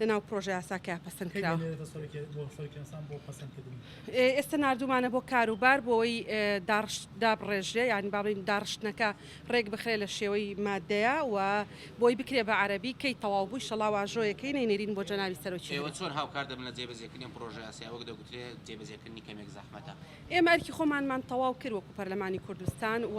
لەناو پرۆژە یاساکەیا پەسەند کرا. ئێستە ناردوومانە بۆ کاروبار بۆوەی داڕشت دابڕێژرێ یان با بڵێین داڕشتنەکە ڕێک بخرێ لە شێوەی مادەیە و بۆی بکرێ بە عەرەبی کەی تەواو بوو ئیشەڵا واژۆیەکەی نەینێرین بۆ جەنابی سەرۆکی هەرێم. ئێوە چۆن هاوکار دەبن لە جێبەجێکردنی ئەم پرۆژە یاسایە وەک دەگوترێ جێبەجێکردنی کەمێک زەحمەتە؟ ئێمە ئەرکی خۆمانمان تەواو کرد وەکوو پەرلەمانی کوردستان و،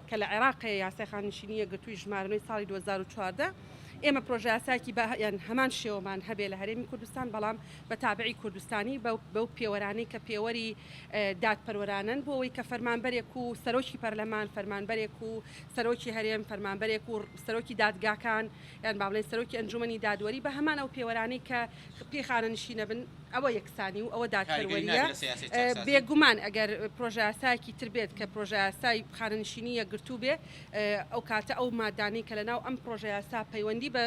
کە لە عێراق هەیە یاسای خانەنشینی یەکگرتووی ژمارە نۆی ساڵی دوو هەزار و چواردە ئێمە پرۆژەیاسایەکی بە یان هەمان شێوەمان هەبێ لە هەرێمی کوردستان بەڵام بە تابعی کوردستانی بەو بەو پێوەرانەی کە پێوەری دادپەروەرانەن بۆ ئەوەی کە فەرمانبەرێک و سەرۆکی پەرلەمان فەرمانبەرێک و سەرۆکی هەرێم فەرمانبەرێک و سەرۆکی دادگاکان یان با بڵێن سەرۆکی ئەنجومەنی دادوەری بە هەمان ئەو پێوەرانەی کە پێی خانەنشینە بن ئەوە یەکسانی و ئەوە دادپەروەریە بێگومان ئەگەر پرۆژاسایەکی تر بێت کە پرۆژاسای خانەنشینی یەکگرتوو بێ ئەو کاتە ئەو مادانی کە لە ناو ئەم پرۆژەیاسا پەیوەندی بە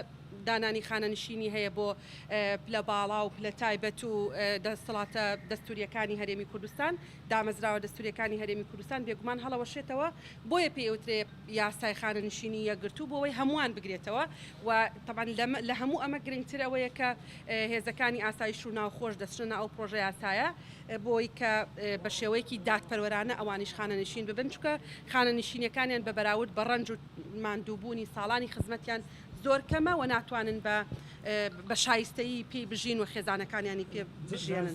دانانی خانەنشینی هەیە بۆ پلە باڵا و پلە تایبەت و دەسەڵاتە دەستوریەکانی هەرێمی کوردستان دامەزراوە دەستوریەکانی هەرێمی کوردستان بێگومان هەڵەوەشێتەوە بۆیە پێوترێ یاسای خانەنشینی یەکگرتوو بۆوەی هەمووان بگرێتەوە و تەبعەن لە هەموو ئەمە گرنگتر ئەوەیە کە هێزەکانی ئاسایش و ناوخۆش دەچنە ناو ئەو پڕۆژە یاسایە بۆی کە بە شێوەیەکی دادپەروەرانە ئەوانیش خانەنشین ببن چکە خانەنشینەکانیان بە بەراورد بە ڕەنج و ماندووبوونی ساڵانی خزمەتیان زۆر کەمە و ناتوانن بە بە شایستەیی پێی بژین و خێزانەکانیانی پێ بژێنن.